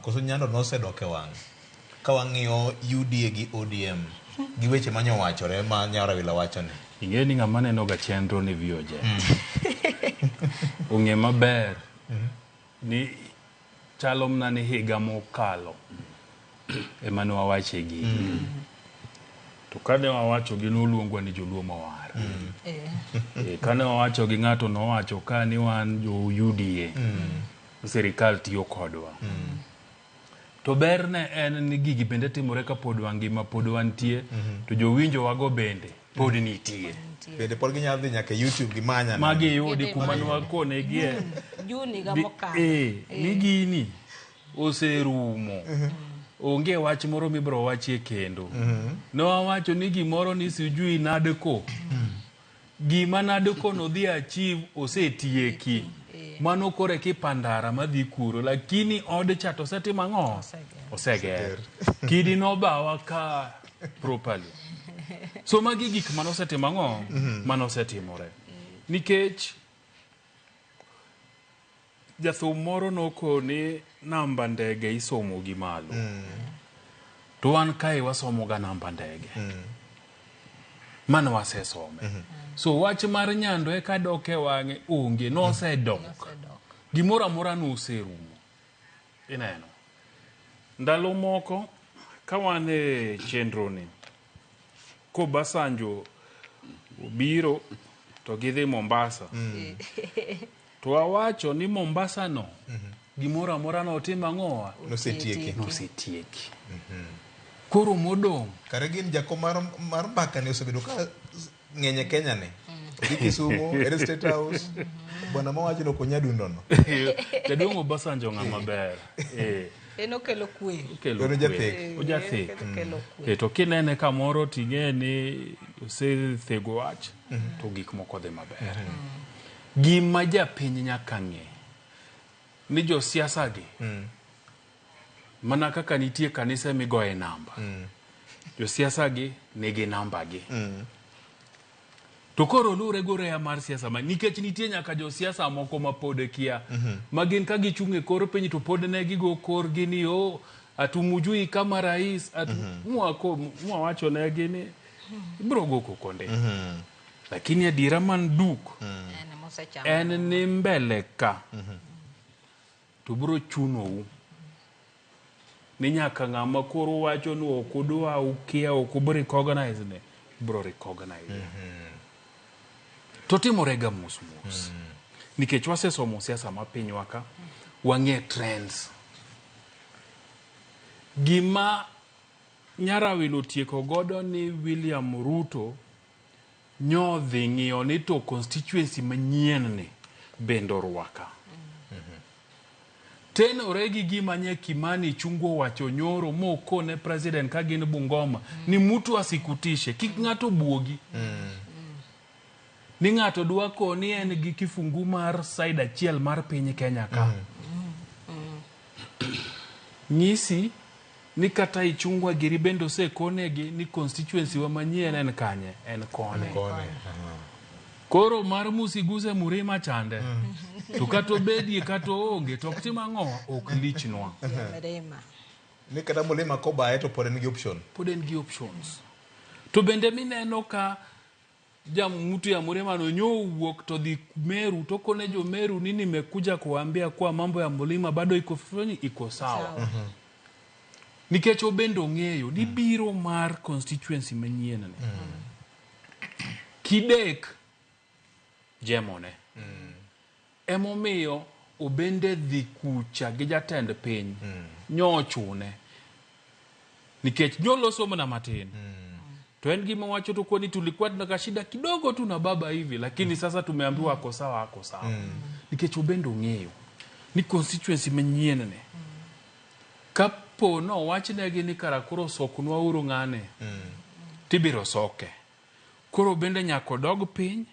Koso nyalo nosedok e wang'e. Ka wang'iyo UDA gi ODM gi weche ma nyowachore ma nya Rawila wacho ni. Ing'e ni ng'ama neno ga chenro ni VOJ. Ong'e maber ni chalo mna ni higa mokalo ema ne wawache gigi. To kane wawacho gi noluongwa ni joluo mawar. Eh. Eh, Kane wawacho gi ng'ato nowacho ka ni wan jo UDA. sirikal tiyo kodwa. Mm. To berne en ni gigi bende timore ka pod wangima, pod wantie, mm -hmm. to jowinjo wago bende pod mhm. nitie. Bende pod ginyalo dhi nyaka YouTube gimanya. Magi yudi kuma nwakone gie. Mm. Juni ga mokalo. Eh, eh, ni gini oserumo. Mm -hmm onge wach moro mibro wachie kendo mm -hmm. nowacho ni gimoro ni sijui nadeko mm -hmm. Gima nade kono odhi achieve osetieki. Mano kore kipandara madhi kuro lakini od cha to osetimo ang'o? Oseger. Kidi nobawa ka properly. So magi gik mano osetimo ang'o? Mano osetimore. Nikech Jathum moro nokoni namba ndege isomo gi malo. Mm. To wan kae wasomo ga namba ndege. Mm. Mane wasesome. Mm -hmm. So wach mar nyando eka dok e wang'e onge nosedok. Mm. Nosedok. Gimoro amora noserumo. Ineno. Ndalo moko ka wan e chenro ni Kobasanjo obiro to gidhi Mombasa. Mm. To awacho ni Mombasa no gimoro amora no otim ang'owa Nosetieki. nosetieki. Koro modong' Kare gin jako mar mar mbaka ne osebedo ka ng'eny e Kenya ni. Odhi Kisumu, ere State House. Bwana mawacho no konyadundo no. jaduong' Obasanjo ng'a maber. Eh, en okelo kwe okelo Oro jathek. kwe. Ojathek. Eh, okelo kwe E to kinene kamoro ting'e ni osethego wach to gik moko dhi maber. Gima japiny nyaka ng'e ni josiasa gi mana kaka nitie kanise migoye namba, josiasa gi nigi namba gi. To koro luwre gi oreya mar siasa ma nikech nitie nyaka josiasa moko ma pod kia ma gin ka gichung' e kor piny to pod ne gigo korgi ni o atumujui kama rais atu, mwako mwawachonegi ni ibiro go koko ndi. Lakini adiera man duk En ema osechamo. en ni mbele ka to biro chunou ni nyaka ng'ama koro wacho ni ok udwa ukia ok ubi recognize ne biro recognize to timorega mos mos nikech wasesomo siasa ma pinywa ka wang'e trends gima nyarawino tieko godo ni William Ruto Nyo dhi ng'iyo ni to constituency manyien ni bende orwaka. Tenore gi gima nye Kimani chungo owacho nyoro mokone president ka gin Bungoma ni mutu asikutishe kik ng'ato buogi. Ni ng'ato dwa koni en gi kifungu mar side achiel mar piny Kenya ka. Nyisi Ni kata Ichungwa giri bende osekonegi ni constituency wa manyien en kanye? En koni. Koni. Aha. Koro mar musiguse murima chande. To kata obedie kata oonge to ok tim ang'o ok lichnwa. Mrema. Ni kata mulima kobaye to pod en gi option. Pod en gi options. To bende mineno ka mtu ya Mrema nonyoo uwuok to dhi Meru to kone jo Meru ni nimekuja kuambia kuwa mambo ya mlima bado iko foni iko sawa. Mm -hmm. Nikech obende ong'eyo ni mm. biro mar constituency manyien ni. Mm -hmm. Kidek jemone. Mm -hmm. Emomiyo obende dhi kucha gi jatend piny nyo ochune. Nikech nyo loso mna matin. To en gima wacho tu kwani tulikuwa tuna kashida kidogo tu na baba hivi lakini sasa tumeambiwa ako sawa ako sawa. Nikech obende ong'eyo ni constituency manyien ni kapo no wachnegi ni kara koro soknwa uru ng'ane tibiro soke. Koro obende nyako dog piny.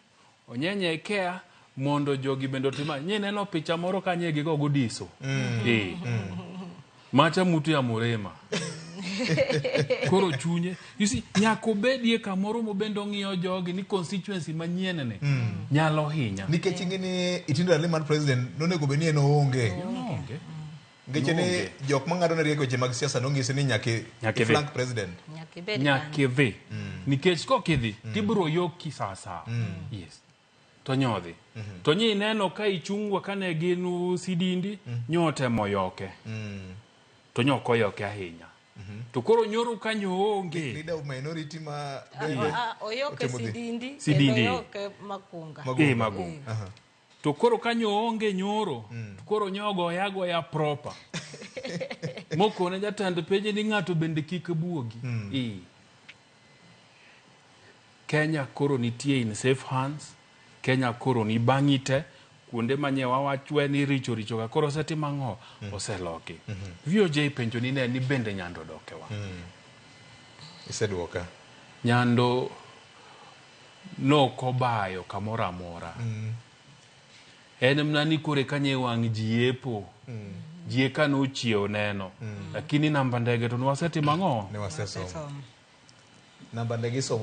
onyenyekea mondo jogi bende otima nye neno picha moro ka nye gigo gudiso mm. e. mm. macha mutu ya murema koro chunye you see nyaka obedie kamoro mobende ong'iyo jogi ni constituency manyien ni mm. nyalo hinya nikech ing'e ni itindo ali mar president nonego bed ni en oonge no. Ngeche ni Noonge. jok ma ng'ado ne riek weche mag siasa nong'isi ni nyaka i- Nyaka i idhi. flank president. Nyaka ibed kanyo. nyaka idhi nikech kok idhi tibiro yoki saa saa yes to nyodhi to nyi ineno ka ichungwa kane gin u sidindi nyotemo yoke to nyok oyoke ahinya to koro nyoro kanyo onge Leader of minority ma Ah, ah, oyoke Otimo dhi. sidindi Sidindi. kendo oyoke makunga Magunga. eh mago Aha. To koro ka nyo onge nyoro, mm. to koro nyo goya goya proper. Mokone jatend peje ni ng'ato bende kik buogi. Mm. E. Kenya koro nitie in safe hands. Kenya koro ni bang'ite kuonde manye wawachwe ni richo richo ka koro seti mang'o mm. oseloki. Mm -hmm. VOJ penjo ni ne ni bende nyando dokewa. Mm. Iseduoka. Nyando Nokobayo kamoro amora. En mna ni koro eka nye wang' ji yepo. Ji eka nochiewo neno. Lakini namba ndege to nwasetimo ang'o? Ne wasesomo. Namba ndege isomo